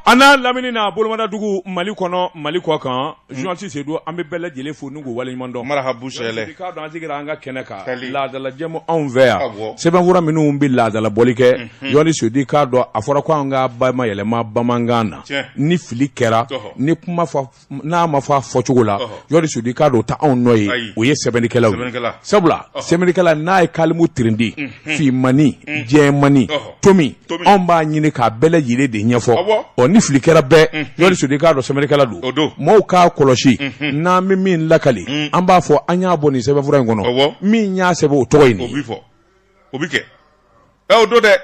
A n'a lamini n'a bolomadadugu mali kɔnɔ mali kɔ kan journaliste Seydou an bɛ bɛɛ lajɛlen fo n'u waleɲumandɔn mara habu k'a dɔn an sigira an ka kɛnɛ kan laadala jɛmu anw fɛ yan sɛbɛnfura minnu bɛ laadalabɔli kɛ journaliste Seydou k'a dɔn a fɔra ko an k'a bayɛlɛma bamanankan na ni fili kɛra ni kuma fɔ n'a ma fɔ a fɔ cogo la journaliste Seydou k'a dɔn o tɛ anw nɔ ye o ye sɛbɛnnikɛlaw ye sabula sɛbɛnnikɛla n'a ye kalimu tirindi finman ni jɛman ni tomi anw b'a ɲini k'a bɛɛ lajɛlen de ɲɛfɔ ɔ ni fili kɛra bɛɛ journaliste Seydou k'a dɔn sɛbɛnnikɛla don maaw k'a kɔlɔsi n'an bɛ min lakali an b'a fɔ an y'a bɔ nin sɛbɛnfura in kɔnɔ min y'a sɛbɛn o tɔgɔ ye nin ye o bɛ kɛ o don dɛ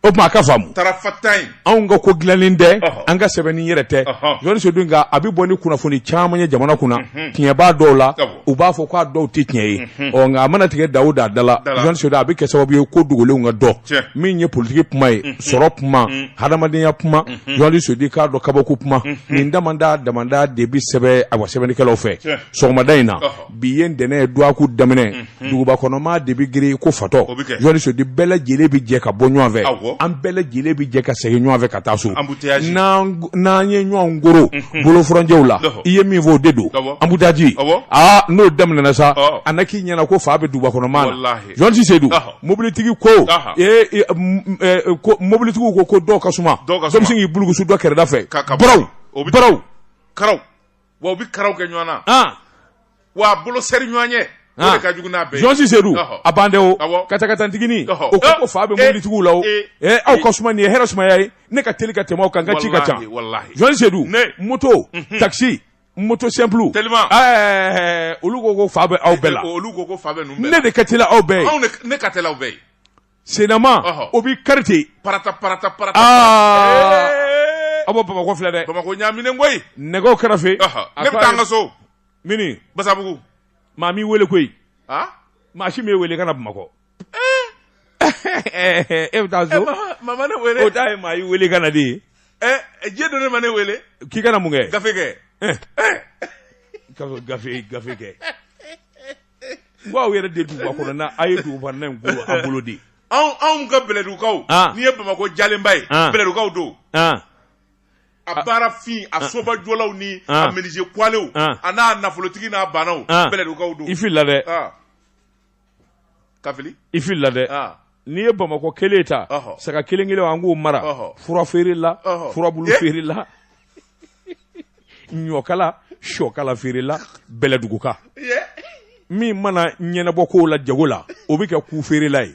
o tuma a ka faamu tarafata in anw ka ko dilannen tɛ Ɔhɔ. an ka sɛbɛnni yɛrɛ tɛ Ɔhɔ. journaliste Seydou nka a bɛ bɔ ni kunnafoni caman ye jamana kunna tiɲɛ b'a dɔw la Awɔ. u b'a fɔ k'a dɔw tɛ tiɲɛ ye ɔ nka a mana tigɛ da o da la Da la. journaliste Seydou a bɛ kɛ sababu ye ko dogolenw ka dɔn Tiɲɛ. min ye politiki kuma ye sɔrɔ kuma hadamadenya kuma journaliste Seydou k'a dɔn kabako kuma nin damanda damanda de bɛ sɛbɛn a wa sɛbɛnnikɛlaw fɛ Tiɲɛ. sɔgɔmada in na Ɔhɔ. bi ye ntɛnɛn ye duwaku daminɛ mhm. duguba kɔnɔmaa de bɛ girin ko fatɔ journaliste Seydou bɛɛ lajɛlen bɛ jɛ ka bɔ ɲɔgɔn fɛ an bɛɛ lajɛlen bɛ jɛ ka segin ɲɔgɔn fɛ ka taa so n'an ye ɲɔgɔn koro mhm. bɔlɔnfurancɛw la i ye min fɔ o de don embouteillage aa n'o daminɛna sa a na k'i ɲɛna ko fa bɛ duguba kɔnɔmaa la journaliste Seydou mobilitigi ko mobilitigiw ko ko dɔw ka suma dɔ bɛ se k'i bulukusu dɔ kɛrɛda fɛ ka baraw baraw karaw wa u bɛ karaw kɛ ɲɔgɔn na ah. wa a bolo seri ɲɔgɔn ye ah. o de ka jugu n'a bɛɛ ye journaliste Seydou a ban de o katakatanintiginin o ko fa bɛ mobilitigiw la o eh, eh, eh, aw ka suma nin ye hɛrɛ sumaya ye ne ka teli ka tɛmɛ aw kan n ka ci ka ca journaliste Seydou moto mhm. takisi moto simple olu ko ko fa bɛ aw bɛɛ la olu ko ko fa bɛ ne de ka teli aw bɛɛ ye ne ka teli aw bɛɛ ye Sennama o bɛ karite pata pata pa a bɔ bamakɔ filɛ dɛ bamakɔ ɲaaminen koyi nɛgɛ kɛrɛfɛ ne bɛ taa an ka so mini basabugu maa m'i weele koyi maa si m'e weele ka na bamakɔ e bɛ taa so maa ma ne weele o t'a ye maa y'i weele ka na de diɲɛ don ne ma ne wele k'i kana mun kɛ gafe kɛ gafe gafe kɛ Ko aw yɛrɛ de duguba kɔnɔ na a ye duguba n a bolo de anw ka bɛlɛdugukaw n'i ye bamakɔ jalenba ye bɛlɛdugukaw don a baarafin a sobajɔlaw ni a menuisier kuwalew a n'a nafolotigi n'a baanaw bɛlɛdugukaw don i filila ka fili i filila dɛ n'i ye bamakɔ kelen ta saga kelen kelen an k'o mara fura feere la furabulu feere la ɲɔkala shɔkala feerela bɛlɛduguka min mana ɲɛnabɔ kow la jago la o bɛ kɛ ku feerela ye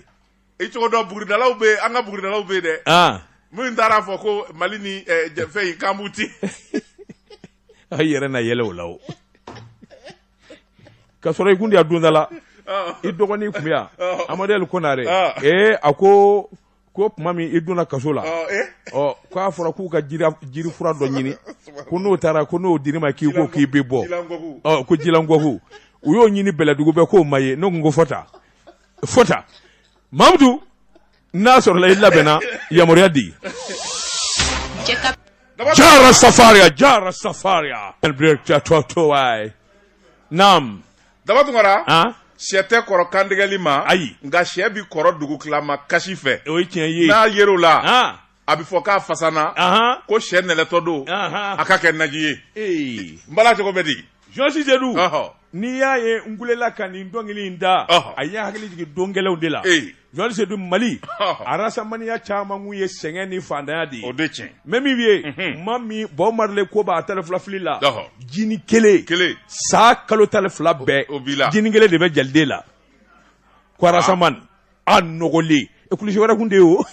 i cogo dɔn buguridalaw bɛ an ka buguridalaw bɛ dɛ ah. minnu taara fɔ ko mali ni eh, fɛn in k'an b'u ti a yɛrɛ na yɛlɛ o la o ka sɔrɔ i kun de y'a don da la ah. i dɔgɔnin kun bɛ yan ah. amadɛli konare ee a ko ko tuma min i donna kaso la ɔ ko a fɔra k'u ka jiri fura dɔ ɲini ko n'o taara ko n'o dir'i ma k'i ko k'i bɛ bɔ ɔ ko jilankɔku u y'o ɲini bɛlɛdugu bɛɛ k'o ma ye ne kun ko fɔta fɔta mamudu n'a sɔrɔla i labɛnna yamaruya di jara safaria jara safaria to to ai nam daba tunkara shɛ tɛ kɔrɔ kantigɛli ma ayi nka shɛ bɛ kɔrɔ dugutilama kasi fɛ o ye tiɲɛ ye n'a yer'o la a bɛ fɔ k'a fasana ko shɛ nɛrɛtɔ don a ka kɛ naji ye ee n bala cogo bɛ di journaliste sedu n'i y'a ye n kulela ka nin dɔnkili in da a ye hakili jigin don gɛlɛnw de la Journaliste sedu mali arasamaniya caman kun ye sɛgɛn ni faantanya de ye o tiɲɛ mɛ min ye ma min bob marley ko a ta filafili la jinin kelen kelen san kalo tan ni fila bɛɛ o la jinin kelen de bɛ jeliden la ko arasamani a nɔgɔlen e kulusi wɛrɛ kun tɛ yen o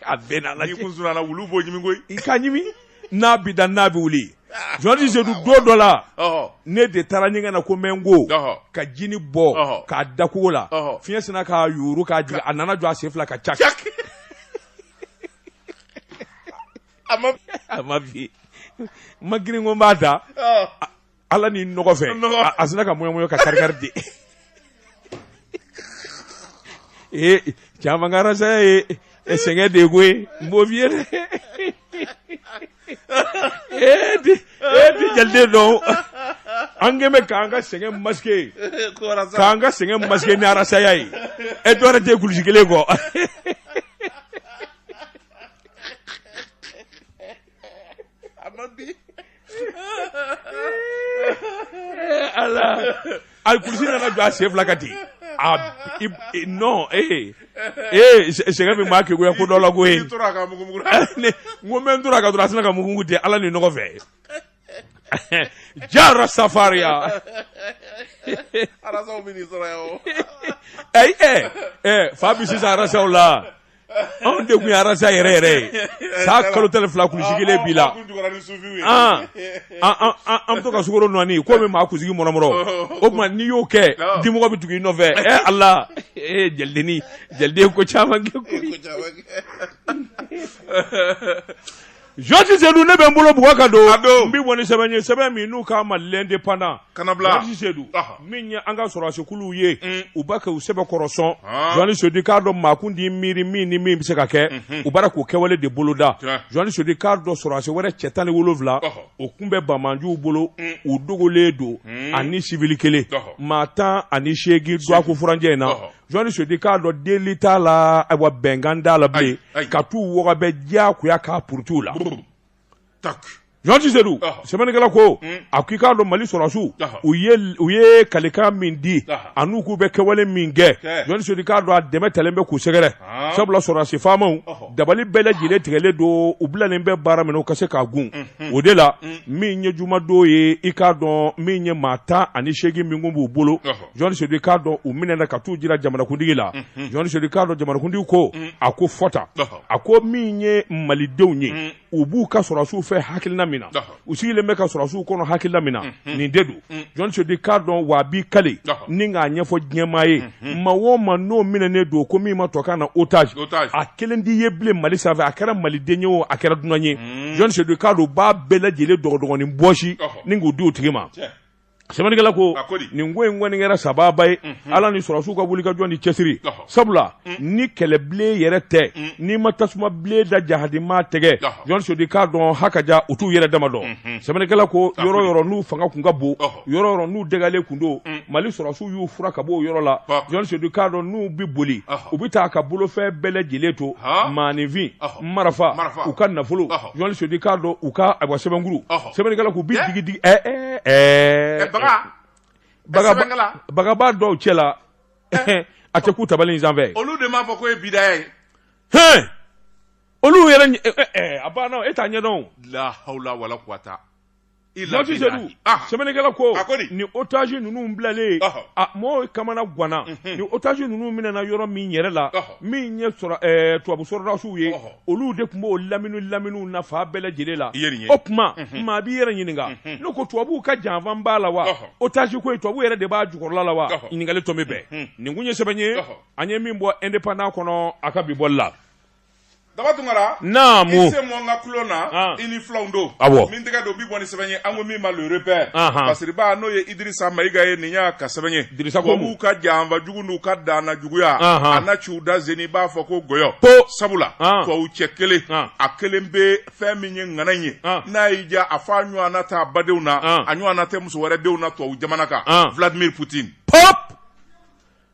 a bɛn ala wulu b'o ɲimi koyi i ka n'a bɛ da n'a bɛ wuli journaliste sedu don dɔ la ne de taara ɲɛgɛn na ko n bɛ n ko ka jinin bɔ k'a da kogo la fiɲɛ sinna k'a yuuru k'a jigin a nana jɔ a sen fila kan ca a ma bin ma girin ko n b'a ta Ala ni nɔgɔ fɛ a sinna ka mɔɲɔmɔɲɔ ka kari ten ee caman ka arasaya ye sɛgɛn de koyi n b'o f'i ye dɛ ee di jeliden dɔn an kɛlen bɛ k'an ka sɛgɛn masquer k'an ka sɛgɛn masquer ni arasaya ye e dɔwɛrɛ tɛ kulusi kelen kɔ Ala a kulusi nana jɔ a sen fila kan ten a non ee ee sɛgɛn min b'a kɛ ko ko dɔ la ko ye n ko n bɛ n tora ka dɔrɔn a sinna ka mugumugu ten ala ni nɔgɔ fɛ jara safaria arasaw bɛ n'i sɔrɔ yan o ɛɛ ɛɛ fa bɛ sisan arasaw la. anw de kun ye arasa yɛrɛ yɛrɛ ye san kalo tan ni fila kulusi kelen b'i la an bɛ to ka sukaro nɔɔni k'o mun maa kunsigi mɔrɔmɔrɔ o tuma n'i y'o kɛ dimɔgɔ bɛ tugu i nɔfɛ ɛ ala ee jelidennin jeliden ko caman kɛ koyi Jɔsi Sedu ne bɛ n bolo bugɔ ka don n bɛ bɔ ni sɛbɛn ye sɛbɛn min n'u k'a ma l'indépendant Jɔsi Sedu min ye an ka sɔrɔsikuluw ye mm. u b'a kɛ u sɛbɛkɔrɔ sɔn Jɔsi Sedu k'a dɔn maa kun t'i miiri min ni min bɛ se ka kɛ mm-hmm. u b'a ra k'o kɛwale de boloda Jɔsi Sedu k'a dɔn sɔrɔsi wɛrɛ cɛ tan ni wolowula u tun bɛ banbaanciw bolo mm. u dogolen don mm. ani sibili kelen maa tan ani seegin dɔgɔkun furancɛ in na Jɔsi Sedu k'a dɔn deli t'a la ayiwa bɛnkan t'a la bilen ka t'u wɔgɔbɛ diyagoya k'a puruti u la Jɔsi Sedu sɛbɛnnikɛla ko hmm. a ko i k'a dɔn mali sɔrɔsiw u ye u ye kalikan min di an'u k'u bɛ kɛwale min kɛ Jɔsi Sedu k'a dɔn a dɛmɛ taalen bɛ k'u sɛgɛrɛ ah. sabula sɔrɔdasi faamaw dabali bɛɛ lajɛlen tigɛlen don u bilalen bɛ baara min na u ka se k'a gun mhm. o de la hmm. min ye jumadon ye i k'a dɔn min ye maa tan ani seegin min kun b'u bolo Jɔsi Sedu k'a dɔn u minɛna ka t'u jira jamanakuntigi la Jɔsi Sedu k'a dɔn jamanakuntigi ko a ko fɔta a ko min ye malidenw ye u b'u ka sɔrɔsiw fɛ hakilina min na u sigilen bɛ ka sɔrɔsiw kɔnɔ hakilina min na nin de don Jɔsi Sedu k'a dɔn wa a b'i kali ni k'a ɲɛfɔ diɲɛmaa ye maa o maa n'o minɛnen don ko min ma tubabukan na otage a kelen tɛ ye bilen mali sanfɛ a kɛra maliden ye o a kɛra dunan ye Jɔsi Sedu k'a dɔn u b'a bɛɛ lajɛlen dɔgɔdɔgɔnin bɔsi ni k'u di u tigi ma Sɛbɛnnikɛla ko nin ko in kɔni kɛra sababa ye ala ni sɔrɔsiw ka wuli ka jɔ ni cɛsiri sabula ni kɛlɛ bilen yɛrɛ tɛ n'i ma tasuma bilen da jahadima tɛgɛ Jɔsi Sedu k'a dɔn ha ka ja u t'u yɛrɛ dama dɔn sɛbɛnnikɛla ko yɔrɔ yɔrɔ n'u fanga tun ka bon yɔrɔ yɔrɔ n'u dagalen tun don mali sɔrɔsiw y'u furan ka bɔ o yɔrɔ la Jɔsi Sedu k'a dɔn n'u bɛ boli u bɛ taa ka bolofɛn bɛɛ lajɛlen to maanifin marifa u ka nafolo Jɔsi Sedu k'a dɔn u ka ayiwa sɛbɛnkuru sɛbɛnnikɛla k'u bi digi digi ɛɛ ɛɛ baga bagaba dɔw cɛ la a tɛ k'u tabali in sanfɛ olu de m'a fɔ ko ye bidaya ye hɛn olu yɛrɛ a banna e t'a ɲɛdɔn la hawla wala quwata Jɔsi Sedu sɛbɛnnikɛla ko ni otage ninnu bilalen mɔgɔw kamanaganna ni otage ninnu minɛna yɔrɔ min yɛrɛ la min ye tubabu sɔrɔdasiw ye olu de tun b'o lamini lamini na fan bɛɛ lajɛlen la o tuma maa b'i yɛrɛ ɲininka n'o ko tubabuw ka janfan b'a la wa otage ko in tubabuw yɛrɛ de b'a jukɔrɔla la wa ɲininkali tɔ bɛ bɛn nin tun ye sɛbɛn ye an ye min bɔ indépendant kɔnɔ a ka bi bɔli la. Daba Tunkara, naamu, i sen bɔ n ka tulon na, an, i ni filanw don, awɔ, min tɛgɛ don bi bɔ ni sɛbɛn ye, an ko min ma le repère, anhan, Basiriba n'o ye Idirisa Mayiga ye nin y'a ka sɛbɛn ye, Dirisa ko tubabuw ka janfa jugu n'u ka daana juguya, anhan, a na ci u da zeni i b'a fɔ ko gɔyɔ, ko, sabula, an, tubabu cɛ kelen, an, a kɛlen bɛ fɛn min ye ŋana in ye, an, n'a y'i diya a fɔ a ɲɔgɔnna t'a badenw na, an, a ɲɔgɔnna tɛ muso wɛrɛ denw na tubabu jamana kan, an, Vladimir Poutine, pɔp,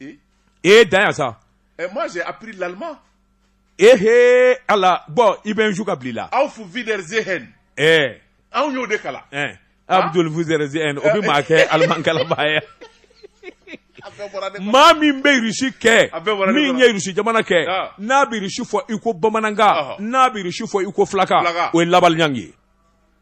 e ye dan yan sa eh, moi j'ai appris l'allemand ehe ala bɔn i bɛ n su ka bili la auf wiedersehen eh anw y'o de kalan eh abdul wiedersehen o bɛ maa kɛ aliman kalanbaa ye maa min bɛ irisi kɛ min ye irisi jamana kɛ ah. n'a bɛ irisi fɔ i ko bamanankan ah. n'a bɛ irisi fɔ i ko fulakan o ye labalɲangi ye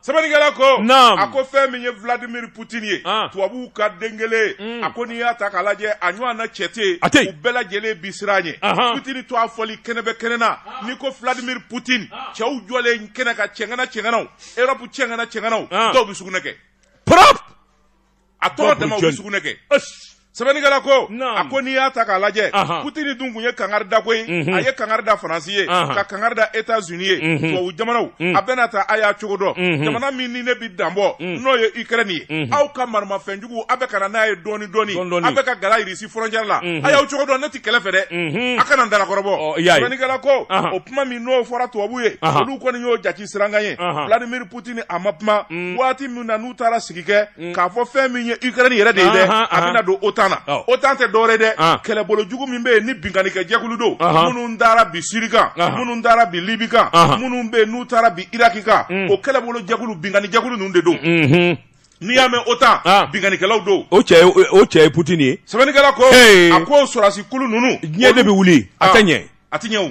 sɛbɛnnikɛla ko a ko fɛn min ye vladimir putini ye tubabuw ka den kelen mm. a ko n'i y'a ta k'a lajɛ a ɲɔgɔn na cɛ tɛ u bɛɛ lajɛlen bi siran ɲɛ putini to a fɔli kɛnɛ bɛ kɛnɛ na n'i ko vladimir putini cɛw jɔlen kɛnɛ kan cɛgana cɛganaw erɔpu cɛgana cɛganaw dɔw bɛ sugunɛ kɛ a tɔgɔ dama u bɛ sugunɛ kɛ sɛbɛnnikɛla ko a ko n'i y'a ta k'a lajɛ putini dun tun ye kangari da koyi mhm. a ye kangari da faransi ye ka kangari da états-unis ye mhm. tubabu jamanaw mhm. a bɛna taa a y'a cogo dɔn jamana min ni ne bɛ danbɔ n'o ye ukraine ye aw ka maramafɛnjugu a bɛ ka na n'a ye dɔɔni dɔɔni a bɛ ka gala irisi frontière la a y'aw cogo dɔn ne tɛ kɛlɛ fɛ dɛ a kana n dalakɔrɔbɔ sɛbɛnnikɛla ko o kuma min n'o fɔra tubabu ye olu kɔni y'o jate sirankan ye vladimir putini a ma kuma waati min na n'u taara sigi kɛ k'a fɔ fɛn min ye ukraine yɛrɛ de ye dɛ a bɛna don otan na otan tɛ dɔwɛrɛ dɛ kɛlɛbolo jugu min bɛ yen ni binkannikɛ jɛkulu don minnu taara bin siri kan minnu taara bin libi kan minnu bɛ yen n'u taara bin iraki kan o kɛlɛbolo jɛkulu binkanni jɛkulu ninnu de don n'i y'a mɛn otan binkannikɛlaw don o cɛ o cɛ ye putini ye sɛbɛnnikɛla ko a ko sɔrɔdasi kulu ninnu diɲɛ de bɛ wuli a tɛ ɲɛ a tɛ ɲɛ o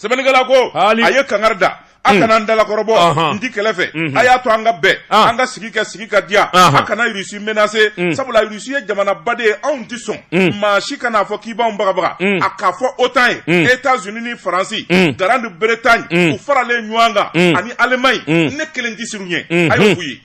sɛbɛnnikɛla ko a ye kangari da a kana n dalakɔrɔbɔ n ti kɛlɛ fɛ mhm. a y'a to an ka bɛn ah. an ka sigi kɛ sigi ka diya a kana rusi menacer mm. sabula rusi ye jamanaba de ye anw tɛ sɔn mm. maa si kan'a fɔ k'i b'anw bagabaga mm. a k'a fɔ otan ye états-unis ni faransi grande bretagne u faralen ɲɔgɔn kan ani allemagne ne kelen tɛ siran u ɲɛ a y'o f'u ye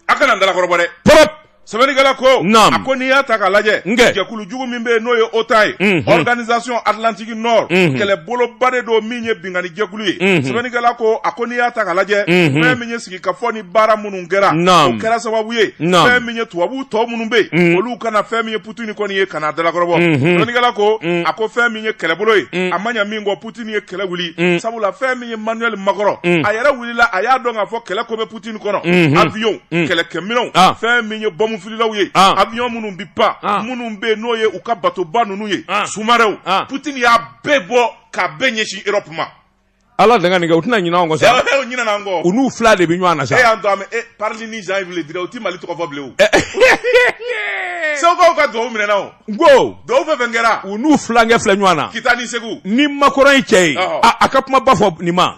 a kana n dalakɔrɔbɔ dɛ propre sɛbɛnnikɛla ko Naam. a ko n'i y'a ta k'a lajɛ Nkɛ. jɛkulu jugu min bɛ yen n'o ye otan ye Mhm. organisation atlantique nord Mhm. kɛlɛboloba de don min ye binkanni jɛkulu ye Mhm. sɛbɛnnikɛla ko a ko n'i y'a ta k'a lajɛ Mhm. fɛn min ye sigikafɔ ni baara minnu kɛra Naam. o kɛra sababu ye Naam. fɛn min ye tubabu tɔ minnu bɛ Mhm. yen olu kana fɛn min ye putini kɔni ye kan'a dalakɔrɔbɔ Mhm. sɛbɛnnikɛla ko Mhm. a ko fɛn min ye kɛlɛbolo ye Mhm. a ma ɲa min kɔ putini ye kɛlɛ wuli Mhm. sabula fɛn min ye manuel macron Mhm. a yɛrɛ wulila a y'a dɔn k'a fɔ kɛlɛ ko bɛ Poutine kɔnɔ Unhun. avion Mm. kɛlɛkɛminɛnw Ah. fɛn min ye bɔmufililaw ye Ah. avion minnu bi pan Ah. minnu bɛ yen n'o ye u ka batoba ninnu ye Ah. sous-marinw Ah. Poutine y'a bɛɛ bɔ k'a bɛɛ ɲɛsin Europe ma ala danga nin kɛ u tɛna ɲinɛ anw kɔ sa u ɲinɛna an kɔ u n'u fila de bɛ ɲɔgɔn na e sa y'an to an bɛ e Parly ni Jean Yves Le Drian u ti Mali tɔgɔ fɔ bilen o Sɛwukaw ka duwawu minɛna o n ko duwawu fɛn fɛn kɛra u n'u filankɛ filɛ ɲɔgɔn na Kita ni Segu ni Macron ye cɛ ye Ɔhɔ. a a ka kuma ba fɔ nin ma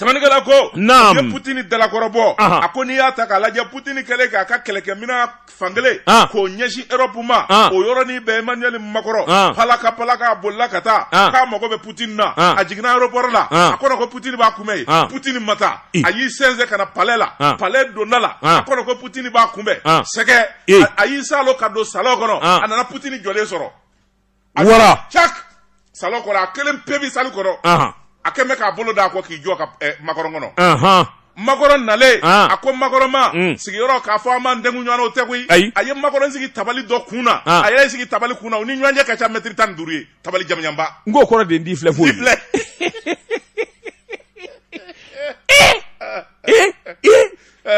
Sɛbɛnnikɛla ko naam u ye Putini dalakɔrɔbɔ anhan a ko n'i y'a ta k'a lajɛ Putini kɛlen k'a ka kɛlɛkɛminɛn fankelen an k'o ɲɛsin Europe ma an o yɔrɔnin bɛɛ Emmanuel Macron an palaka palaka a bolila ka taa an k'a mago bɛ Putini na an a jiginna aéroport la an a kɔnɔ ko Putini b'a kunbɛn yen an Putini ma taa i a y'i sɛnsɛn ka na palais la an palais donda la an a kɔnɔ ko Putini b'a kunbɛn an sɛgɛ e a a y'i saalo ka don salon kɔnɔ an a nana Putini jɔlen sɔrɔ wara cak salon kɔnɔ a kelen pe bɛ sali kɔnɔ a kɛlen bɛ k'a bolo d'a kɔ k'i jɔ ka eh, makɔrɔn kɔnɔ makɔrɔn nalen ah. a ko makɔrɔn ma mm. sigiyɔrɔ k'a fɔ an b'an dengu ɲɔgɔn na o tɛ koyi a ye makɔrɔn sigi tabali dɔ kun na ah. a yɛrɛ sigi tabali kun na u ni ɲɔgɔn cɛ ka ca mɛtiri tan ni duuru ye tabali jamanjanba n k'o kɔrɔ de ye n t'i filɛ foyi filɛ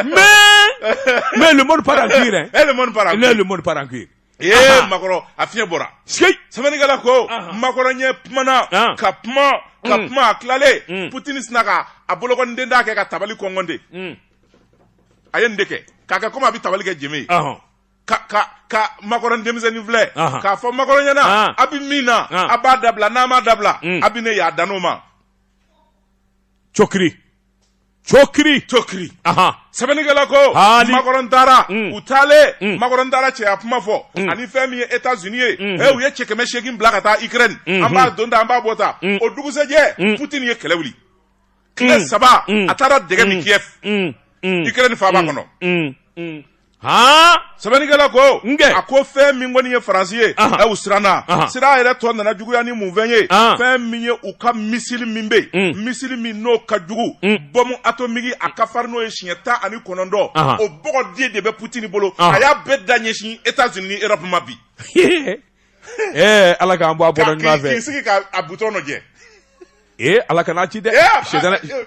mais mais le monde part en couille hein eh, le monde part en couille le monde part en couille Ee makɔrɔ a fiɲɛ bɔra sɛbɛnnikɛla ko makɔrɔ yɛrɛ kumana ka kuma ka kuma a tilalen putini sinna k'a bolokɔniden da kɛ ka tabali kɔnkɔn ten a ye nin de kɛ k'a kɛ kɔmi a bɛ tabali kɛ jenbe ye ka makɔrɔ denmisɛnnin filɛ k'a fɔ makɔrɔ ɲɛna a bɛ min na a b'a dabila n'a m'a dabila a bɛ ne y'a dan o ma cokiri cokiri cokiri sɛbɛnnikɛla ko makɔrɔn taara mm. u taalen mm. makɔrɔn taara cɛya kuma fɔ mm. ani fɛn min ye etats unis ye mm-hmm. u ye cɛ kɛmɛ seegin bila ka taa ukraine mm-hmm. an bɛ don tan an bɛ bɔ tan o dugusɛjɛ putini ye kɛlɛ wuli tile saba a taara dɛgɛ min kiev ukraine faaba kɔnɔ han sɛbɛnnikɛla ko Nge. a ko fɛn min kɔni ye faransi ye Ahan. ɛ u siranna Ahan. siran yɛrɛ tɔ nana juguya ni mun fɛn ye Ahan. fɛn min ye u ka misili min bɛ yen Mm. misili min n'o ka jugu Mm. bɔmu atomiki a ka farin n'o ye siɲɛ tan ani kɔnɔntɔn Ahan. o bɔgɔden de bɛ putini bolo Ahan. a y'a bɛɛ da ɲɛsin etats unis ni europe ma bi ee ala k'an bɔ a bɔda Ka- ɲuman k'i k'i fɛ sigi k'a butɔn lajɛ ee ala kana ci dɛ Ee, a- sɛdana a-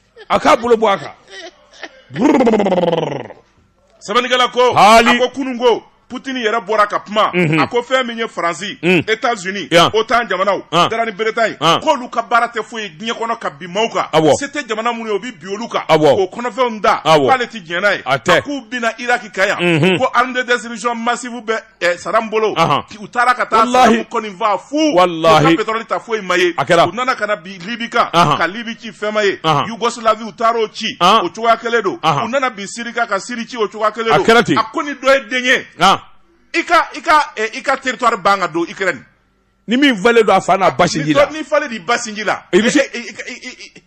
a k'a bolo bɔ a kan sɛbɛnnikɛla ko a ko kunun ko Poutine yɛrɛ bɔra ka kuma mhm. a ko fɛn min ye Faransi mhm. États-Unis OTAN jamanaw ah. Grande Bretagne ah. k'olu ka baara tɛ foyi ye diɲɛ kɔnɔ ka bin maaw kan se tɛ jamana minnu ye u bɛ bin olu kan k'o kɔnɔfɛnw ta k'ale tɛ diɲɛ n'a ye a k'u binna Iraki kan yan mhm. ko arme de destruction massive bɛ ɛ sadamu bolo Ahan. u taara ka taa Walahi. sadamu kɔni faa fu Walahi. u ka pétrole ta foyi ma ye A kɛra. u nana ka na bin libi kan Ahan. ka libi ci fɛn ma ye Ahan. yugoslavie u taara o ci Ahan. o cogoya kelen don Ahan. u nana bin siri kan ka siri ci o cogoya kelen A don kɛra ten. a ko ni dɔ ye den ye ah i ka i ka ɛ, i ka territoire ban ka don ukraine ni min falen don a fa n'a ba sinji la n'i falen d'i ba sinji la I bɛ se- I- I- I- I-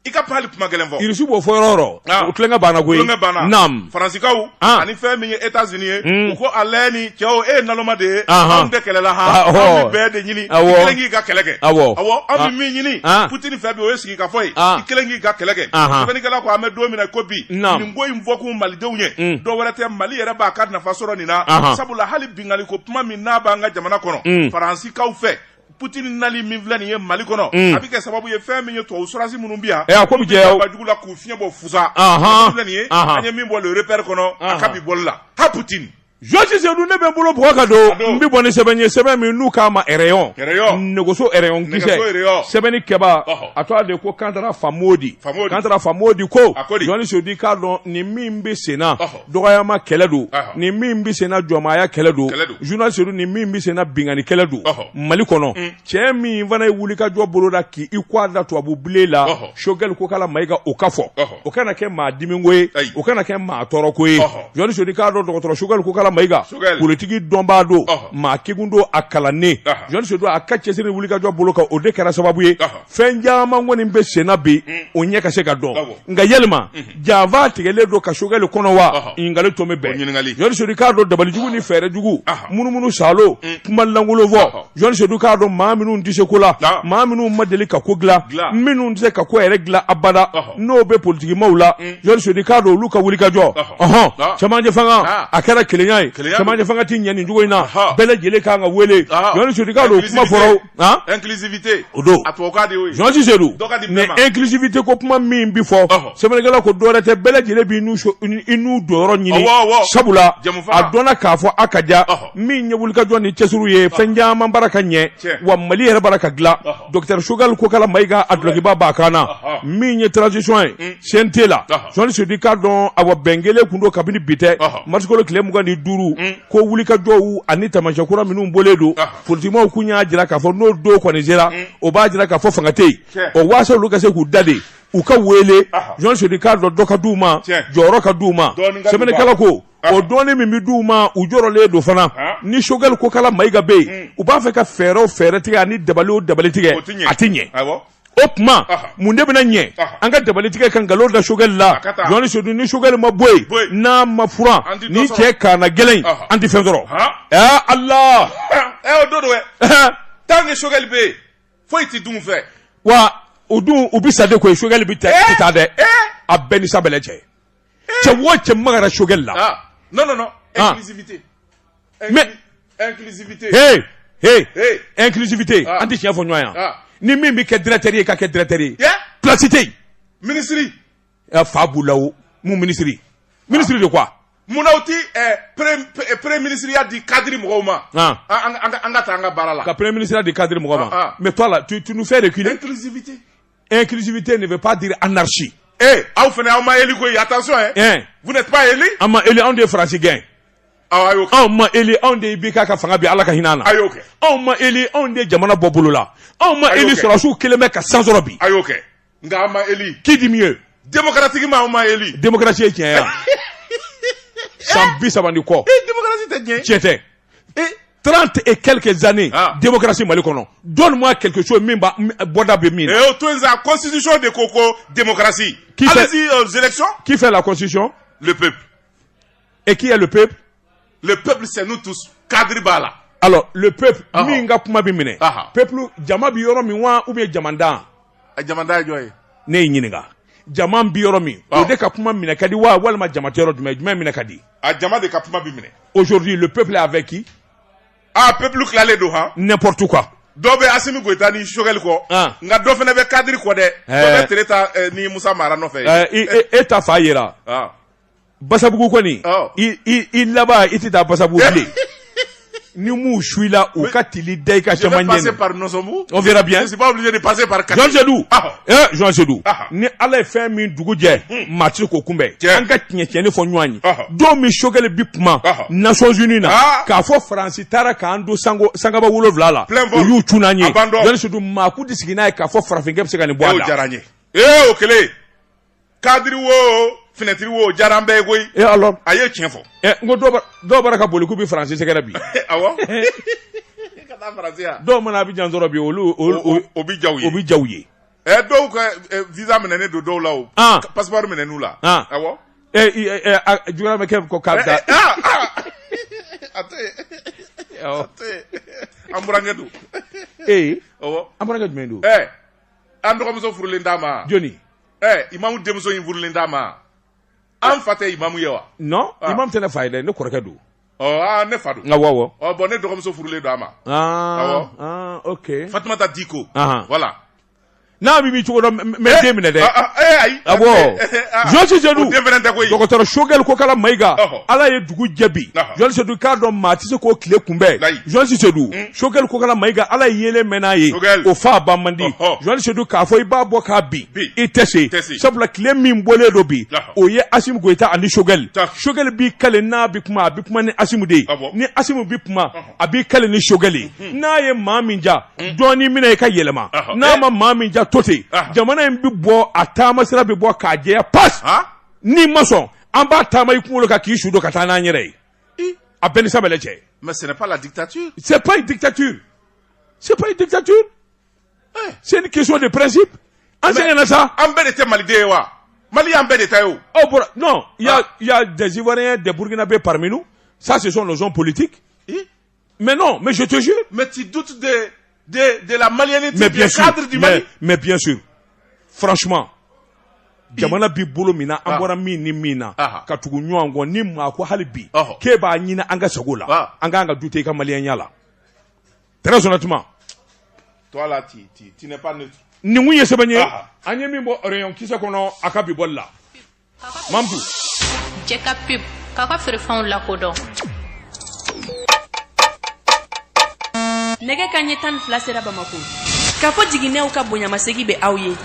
i ka pali kuma gɛlɛn fɔ irisi b'o fɔ yɔrɔ yɔrɔ ah. o tulonkɛ banna koyi tulonkɛ banna naam faransikaw ah. ani fɛn min ye etats unis ye hmm. u ko ale ni cɛw e ye naloma de ye anw tɛ kɛlɛ la ha an bɛ bɛn de ɲini i kelen k'i ka kɛlɛ kɛ awɔ awɔ an bɛ ah. min ɲini putini fɛ bi o ye sigi ka fɔ ye i kelen k'i ka kɛlɛ kɛ sɛbɛnnikɛla ko an bɛ don min na ko bi nin ko in fɔkun malidenw ye hmm. dɔ wɛrɛ tɛ mali yɛrɛ b'a ka nafa sɔrɔ nin na sabula hali binkanni ko kuma min n'a b'an ka jamana kɔnɔ hmm. faransikaw fɛ Poutine nali min filɛ nin ye Mali kɔnɔ, un, a bɛ kɛ sababu ye fɛn min ye tubabu sɔrasi minnu bɛ yan, ee a ko bɛ jɛ, ba jugu la k'u fiɲɛ bɔ fusa, anhan, filɛ nin ye, anhan, an ye min bɔ le repère kɔnɔ, anhan, a ka bi bɔli la, ha Poutine. Georges Seydou ne bɛ n bolo bugɔ ka don, n bɛ bɔ ni sɛbɛn ye sɛbɛn min n'u k'a ma rayon, rayon, nɛgɛso rayon kisɛ, nɛgɛso rayon, sɛbɛnnikɛbaa, ɔhɔ, a tɔgɔ de ko Kantara Famodi, Famodi, Kantara Famodi ko, a ko di, Georges Seydou k'a dɔn nin min bɛ senna, ɔhɔ. dɔgɔyama kɛlɛ don nin min bɛ senna jɔnmaya kɛlɛ don Georges Seydou nin min bɛ senna binkanni kɛlɛ don mali kɔnɔ mm. cɛ min fana ye wulikajɔ boloda k'i kɔ da tubabu bilen la sokɛli kokala mayiga o ka fɔ o kana kɛ maa dimiko ye o kana kɛ maa tɔɔrɔko ye Georges Seydou k'a dɔn dɔgɔtɔrɔ sokɛli kokala mayiga politiki dɔnbaa don maa kegun don a kalannen Georges Seydou don a ka cɛsiri wulikajɔ bolo kan o de kɛra sababu ye fɛn caman kɔni bɛ senna bi o ɲɛ ka se ka dɔn nka yalima janfa tigɛlen don ka sokɛli kɔnɔ wa ɲininkali to bɛ bɛn Georges Seydou k'a dɔn dabalijugu ni fɛɛrɛjugu munumunu salo kuma lankolon fɔ Georges Seydou k'a dɔn maa minnu tɛ se ko la maa minnu ma deli ka ko dilan minnu tɛ se ka ko yɛrɛ dilan abada n'o bɛ politikimaw la Georges Seydou k'a dɔn olu ka wulikajɔ ɔɔn cɛmancɛ fanga a kɛra kelenya ye cɛmancɛ fanga tɛ ɲɛ nin cogo in na bɛɛ lajɛlen kan ka wele Georges Seydou k'a dɔn kuma fɔlɔ Han? inclusivité O don. a tubabukan de y'o ye Georges Seydou Dɔ ka di bɛɛ ma. nin inclusivité ko kuma min bi fɔ Ɔhɔ. sɛbɛnnikɛla ko dɔwɛrɛ tɛ bɛɛ lajɛlen b'i n'u so- i n'u donyɔrɔ ɲini Ɔwɔ, ɔwɔ. sabula Jɛmufa. a dɔnna k'a fɔ a ka diya Ɔhɔ. min ye wulikajɔ ni cɛsiriw ye fɛn caman baara ka ɲɛ Tiɲɛ. wa mali yɛrɛ baara ka dilan Ɔhɔ. docteur Choguel Kokala Mayiga a dulokiba b'a kan na Ɔhɔ. min ye transition ye CNT la Ɔhɔ. Georges Seydou k'a dɔn awa bɛn kɛlen kun don kabini bi tɛ Ɔhɔ. marisikalo tile mugan ni duuru ko wulikajɔw ani taamasiyɛn kura minnu bɔlen don Ɔhɔ. politikimaw tun y'a jira k'a fɔ n'o don kɔni sera mm. o b'a jira k'a fɔ fanga tɛ yen o waasa olu ka se k'u da de u ka weele Georges Seydou k'a dɔn dɔ ka di u ma jɔyɔrɔ ka di u ma sɛbɛnnikɛla ko o dɔɔni min bɛ di u ma u jɔrɔlen don fana ni sokɛli kokala mayiga bɛ yen mm. u b'a fɛ ka fɛɛrɛ o fɛɛrɛ tigɛ ani dabali o dabali tigɛ a tɛ ɲɛ o tuma mun de bɛna ɲɛ an ka dabali tigɛ ka nkalon da sokɛli la Georges Seydou ni sokɛli ma bɔ yen n'a ma furan ni cɛ kaana gɛlɛn an tɛ fɛn sɔrɔ ɛɛ ala o don dɛ tant que sokɛli bɛ yen foyi tɛ dun fɛ wa o dun u bɛ sa de koyi sokɛli bɛ taa dɛ a bɛɛ ni sabɛlɛ cɛ cɛ wo cɛ magara sogɛli la ah non non non ah. inclusivité mais inclusivité hey hey hey inclusivité ah. an tɛ tiɲɛ fɔ ɲɔgɔn yan ah. ni min bɛ kɛ directeur ye ka kɛ directeur ye place tɛ yen ministre fa b'u la o mun ministre ministre de quoi munna u ti premier ministreya di cadre mɔgɔw ma an ka taa an ka baara la ka premier ministreya di cadre mɔgɔw ma mais toi là tu nous fais reculer inclusivité inclusivité ne veut pas dire anarchie ee aw fana aw ma eli koyi attention hein ɛn vous n'êtes pas élus an ma eli anw de ye faransi gɛn aw a y'o kɛ anw ma eli anw de ye IBK ka fanga bin ala ka hinɛ a na a y'o kɛ anw ma eli anw de ye jamana bɔ bolo la anw ma Ayi, eli ok. sɔrɔdasiw kelen bɛ ka san sɔrɔ bi a y'o kɛ nka an ma eli qui dit mieux démocratiquement aw ma eli démocratie ye tiɲɛ ye wa san bi saba ni kɔ ee démocratie tɛ diɲɛ tiɲɛ tɛ tran tɛ e kɛlɛkɛ zannen densi mali kɔnɔ jɔnso min bɔda bɛ min tosi de ko ko densi k'fɛ lasi p e k'ile pep lepsɛn tu kadi b'a la pep min ka kuma bɛ minɛ pep jama bɛ yɔrɔ min wa u bɛ jamanadan jɔn ne ye ɲininka jama bɛ yɔrɔ min o de ka kuma minɛ ka di wa walima jama yɔrɔ jumɛn jumɛn minɛ ka di a jama de ka kuma bi minɛ aujourd'hui le peuple avec qui ah peuple tilalen don han n'importe quoi dɔ bɛ asimi goyita ni sogɛli kɔ ah. nka dɔ fana bɛ cadre kɔ dɛ eh. dɔ bɛ tereta eh, ni musa mara nɔfɛ eh, e, e, e ta fan yira ah. basabugu kɔni oh. i laban i tɛ taa basabugu bilen ni m'u suila u ka tili da i ka caman ɲɛ on verra bien Jean Sedou ah. eh Jean Sedou ah. ni Ala ye fɛn min dugu jɛ hmm. maa ti se k'o kunbɛn an ka tiɲɛ tiɲɛni fɔ ɲɔgɔn ye ah. don min sogɛli bi kuma Nations Unies na k'a fɔ Faransi taara k'an to sango sankaba wolonwula la u y'u cun an ye Jean Sedou maa kun ti sigi n'a ye k'a fɔ farafinkɛ bɛ se ka nin bɔ a la ee o kɛlen cadre wo fenêtre wo diyara an bɛɛ ye koyi et alors a ye tiɲɛ fɔ ɛ n ko dɔw b'a- dɔw bara ka boli k'u bɛ faransi sɛgɛrɛ bi awɔ ka taa faransi yan dɔw mana Abidjan sɔrɔ bi olu o olu- o- o bɛ diya u ye o bɛ diya u ye ɛ dɔw ka ɛ, visa minɛnen don dɔw la o Ah. Ka- passeport minɛn'u la Ah. awɔ ɛ i- ɛ ɛ, a juguyara bɛ kɛ ko k'a bɛ taa Ɛ, ah, ah. a tɛ yen. Awɔ. A tɛ yen. an burankɛ don ee awɔ an burankɛ jumɛn don ɛ an dɔgɔmuso furulen d'a ma joni eh, imamu denmuso in furulen d'a ma an fa tɛ imamu ye wa non ah. imamu tɛ ne fa ye dɛ ne kɔrɔkɛ don oh, ah, ne fa don nka awɔ oh, bon ne dɔgɔmuso furulen don a ma ah, ah, ok fatumata diko uh -huh. voilà n'a bɛ min cogo dɔ mɛ eh, den minɛ dɛ ah, ah, eh, ayi awɔ Jean Sedou dɔgɔtɔrɔ sogɛli kokala mayiga ala ye dugu jɛ bi Jean Sedou k'a dɔn maa tɛ se k'o tile kunbɛn Jean Sedou sokɛli kokala mayiga ala yelen mɛn n'a ye o fa ba man di jɔli sedu k'a fɔ i b'a bɔ k'a bin i tɛ se sabula tile min bɔlen don bi o ye asimi goyita ani sokɛli sokɛli b'i kale n'a bɛ kuma a bɛ kuma ni asimi de ye ni asimi bɛ kuma a b'i kale ni sokɛli ye mhm. n'a ye maa min ja mhm. dɔɔni minɛ i ka yɛlɛma n'a eh. ma maa min ja to ten jamana in bɛ bɔ a taama sira bɛ bɔ k'a jɛya pas n'i ma sɔn an b'a taama i kunkolo kan k'i su don ka taa n'an yɛrɛ ye a bɛɛ ni sabali cɛ mais ce n'est pas la dictature c'est pas une dictature c'est pas une dictature eh. c'est une question de principe an sɛgɛnna sa an bɛɛ de tɛ maliden ye wa mali y'an bɛɛ de ta ye o oh bon non il y a ah. il y a des ivoiriens des burkinabés parmi nous ça ce sont nos hommes politiques Mais non, mais je te jure. Mais tu doutes de, de, de la malianité mais bien sûr, cadre du Mali mais, mais bien sûr. Franchement. jamana bi bolo min na an ah. bɔra min ni min na ah. ka tugu ɲɔgɔn kɔ ni maa ko hali bi k'e b'a ɲini an ka sago la ah. an kan ka dute i ka maliyɛnya la très honnêtement toi là tu, tu, tu n'es pas neutre nin kun ye sɛbɛn ye an ye min bɔ rayon kisɛ kɔnɔ a ka bi bɔli la Mamadu. Jɛ ka pub k'aw ka feerefɛnw lakodɔn. Nɛgɛ ka ɲɛ tan ni fila sera Bamakɔ. Kafo jiginɛw ka bonyamasegi bɛ aw ye.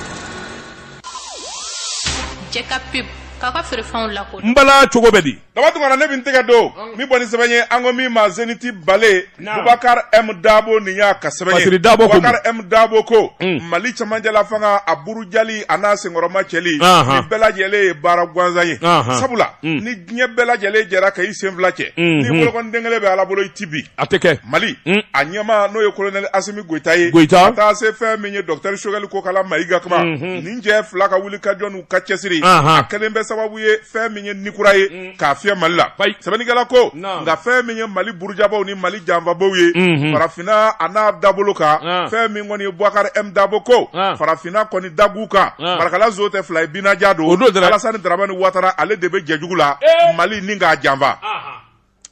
Jɛ ka pub k'aw ka feerefɛnw lakodɔn. N bala cogo bɛ di? daba tunkara ne bɛ tɛgɛ don min bɔ ni sɛbɛn ye an ko min ma zeniti bale bubakari emu dabo nin y'a ka sɛbɛn ye bubakari emu dabo ko mali cɛmancɛla fanga a burujali a n'a senkɔrɔmacɛli nin bɛɛ lajɛlen ye baara gansan ye sabula ni diɲɛ bɛɛ lajɛlen jɛra ka i sen fila cɛ ni bolokɔniden kelen bɛ ala bolo i ti bin a tɛ kɛ mali a ɲɛmaa n'o ye kolonɛli asimi goyita ye ka taa se fɛn min ye dɔkitɛri sokɛli kokala mayiga kuma nin cɛ fila ka wuli ka jɔ n'u ka cɛsiri a kɛlen bɛ sababu ye fɛn min ye nikura ye mm. k'a fiyɛ mali la sɛbɛnnikɛla ko nka fɛn min ye mali burujabaw ni mali janfabaw ye mm-hmm. farafinna a n'a dabolo kan fɛn min kɔni ye buwakari m dabo ko farafinna kɔni dagu kan marakala zo tɛ fila ye binaja don alasani daramani watara ale de bɛ jɛjugu la mali ni k'a janfa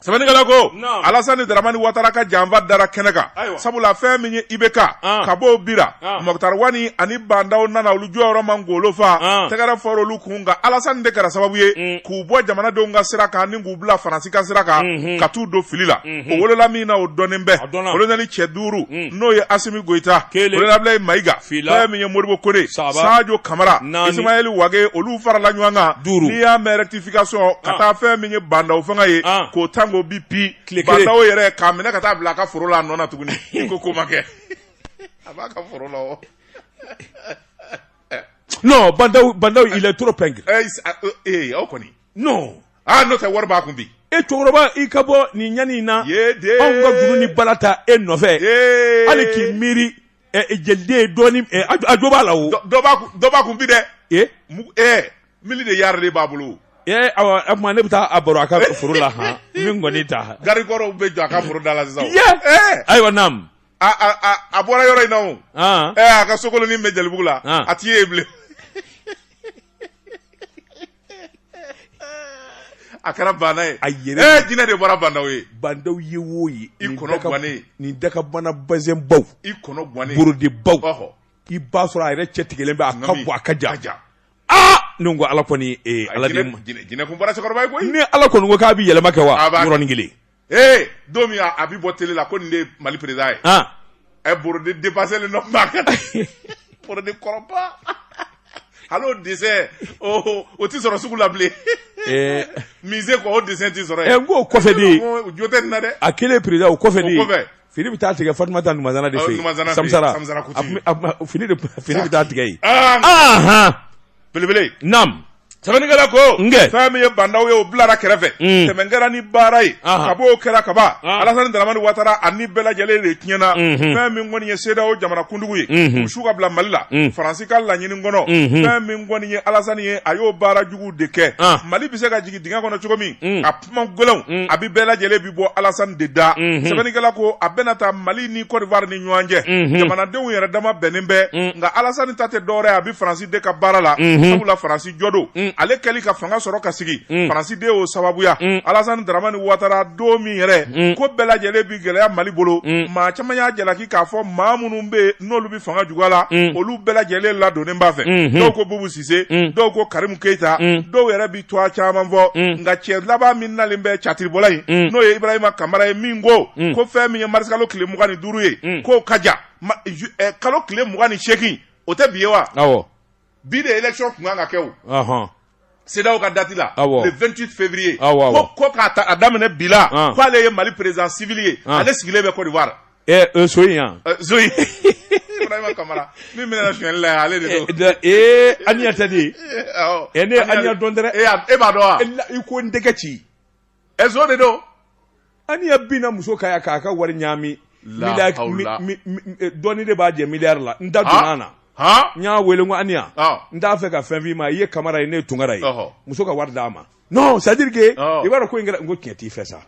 sɛbɛnnikɛla ko Naamu. alasani daramani watara ka janfa dara kɛnɛ kan Ayiwa. sabula fɛn min ye ibk An. ka b'o bira An. mɔkutari wani ani ba ndaw nana olu jɔyɔrɔ ma golo fa An. tɛgɛrɛ fɔra olu kun nka alasani de kɛra sababu ye Mm. k'u bɔ jamanadenw ka sira kan ni k'u bila faransi ka sira kan Mhm. ka t'u don fili la Mhm. o wolola min na o dɔnnen bɛ A dɔnna. kolonɛli cɛ duuru Mm. n'o ye asimi goyita Kelen. kolonɛli abilayi mayiga Fila. fɛn min ye modibo kone Saba. sajo kamara Naani. isimayɛli wage olu farala ɲɔgɔn kan Duuru. n'i y'a mɛn rectifier sɔn ka ah. taa fɛn min ye bandaw fanga ye ah. k'o tan k'o bin pi bandaw yɛrɛ k'a minɛ ka taa bila a ka foro la a nɔ na tuguni i ko ko ma kɛ a b'a ka foro la o non bandaw bandaw il est trop pingre ee eh, ah, euh, eh, aw kɔni non aa n'o tɛ wari b'a kun bi e cɛkɔrɔba i ka bɔ nin ɲani in na anw ka juru ni bala ta e nɔfɛ hali k'i miiri jeliden dɔɔnin jo b'a la dɔba kun bi dɛ mili de yari de b'a bolo ne bɛ taa a baro a ka foro la n bi ngɔni ta garikɔrɔw bɛ jɔ a ka foro da la sisan ayiwa naamu a bɔra yɔrɔ in na a ka sokolonin bɛ jelibugu la a t'i ye bilen A kɛra bana ye a yɛrɛ jinɛ de bɔra bandaw ye bandaw ye wo ye i kɔnɔ ɛ nin dakabana bazɛnbaw i kɔnɔ borodibaw ka hɔ i b'a sɔrɔ a yɛrɛ cɛ tigɛlen bɛ a ka bɔ a ka ja ja aa n ko ala kɔni ala jinɛ bɔra cɛkɔrɔba ye koyi ni ala kɔni ko k'a bɛ yɛlɛma kɛ wa yɔrɔnin kelen ee don min a bɛ bɔ tele la ko nin de ye mali président ye ɛ borodi depaselen don maa ka borodi kɔrɔba hali o dessin o tɛ sɔrɔ sugu la bilen musée kɔ o dessin tɛ sɔrɔ yen n k'o kɔfɛ de ye jo tɛ nin na dɛ a kelen président o kɔfɛ de ye Fini bɛ taa tigɛ Fatumata ta Numazana de fɛ yen, Numazana fɛ yen, Samusara, Samusara Kote, a tun bɛ, a tun bɛ, fini de tun, fini bɛ taa tigɛ yen, aa, anhan, belebele, naamu, sɛbɛnnikɛla ko, n kɛ, fɛn min ye bandaw ye o bilara kɛrɛfɛ, un, tɛmɛ kɛra ni baara ye, anhan, kab'o kɛra kaban, anhan, Alasani Daramani Watara a ni bɛɛ lajɛlen de tiɲɛna, unhun, fɛn min kɔni ye CEDEAO jamanakuntigiw ye, unhun, u su ka bila Mali la, un, Faransi ka laɲini kɔnɔ, unhun, fɛn min kɔni ye Alasani ye a y'o baara jugu de kɛ, an, Mali bɛ se ka jigin dingɛ kɔnɔ cogo min, un, a kuma gɛlɛnw mm. a bɛ bɛɛ lajɛlen bi bɔ Alassane de da mm-hmm. sɛbɛnnikɛla ko a bɛna taa Mali ni Côte d'Ivoire ni ɲɔgɔn cɛ mm-hmm. jamanadenw yɛrɛ dama bɛnnen bɛ mm. nka Alassane ta tɛ dɔwɛrɛ ye a bɛ Faransi de ka baara la mm-hmm. sabula Faransi jɔn don mm. ale kɛli ka fanga sɔrɔ ka sigi Faransi de y'o sababuya Alassane Dramane Ouattara don min yɛrɛ ko bɛɛ lajɛlen bi gɛlɛya Mali bolo maa caman y'a jalaki k'a fɔ maa minnu bɛ n'olu bɛ fanga juguya la olu bɛɛ lajɛlen ladonnen b'a fɛ dɔw ko Boubou Cissé dɔw ko Karim Keita dɔw yɛrɛ bi tɔgɔ caman fɔ mm. nka cɛ laban min nalen bɛ catiribɔla in mm. n'o ye ibrahima kamara ye min ko mm. ko fɛn min ye marisikalo tile mugan ni duuru ye k'o ka ja eh, kalo tile mugan ni seegin o tɛ bi ye wa bi de election tun kan ka kɛ o CEDEAO ka dati la le 28 février ko ko k'a daminɛ bi la k'ale ye mali président civil ye ale sigilen bɛ côte d'ivoire So in yan so kamara min bɛna sili la ale de ee aniya tɛ de e ne aniya dɔn dɛ e b'a dɔn wa i ko n tɛgɛ ci nson de don aniya binna muso kan k'a ka wari ɲami dɔɔni de b'a jɛ miliyari la n da donna na n y'a weele ko aniya n t'a fɛ ka fɛn f'i ma i ye kamara ye ne ye tunkara ye muso ka wari d'a ma c'est-à-dire que i b'a dɔn ko in kɛra n ko tiɲɛ t'i fɛ sa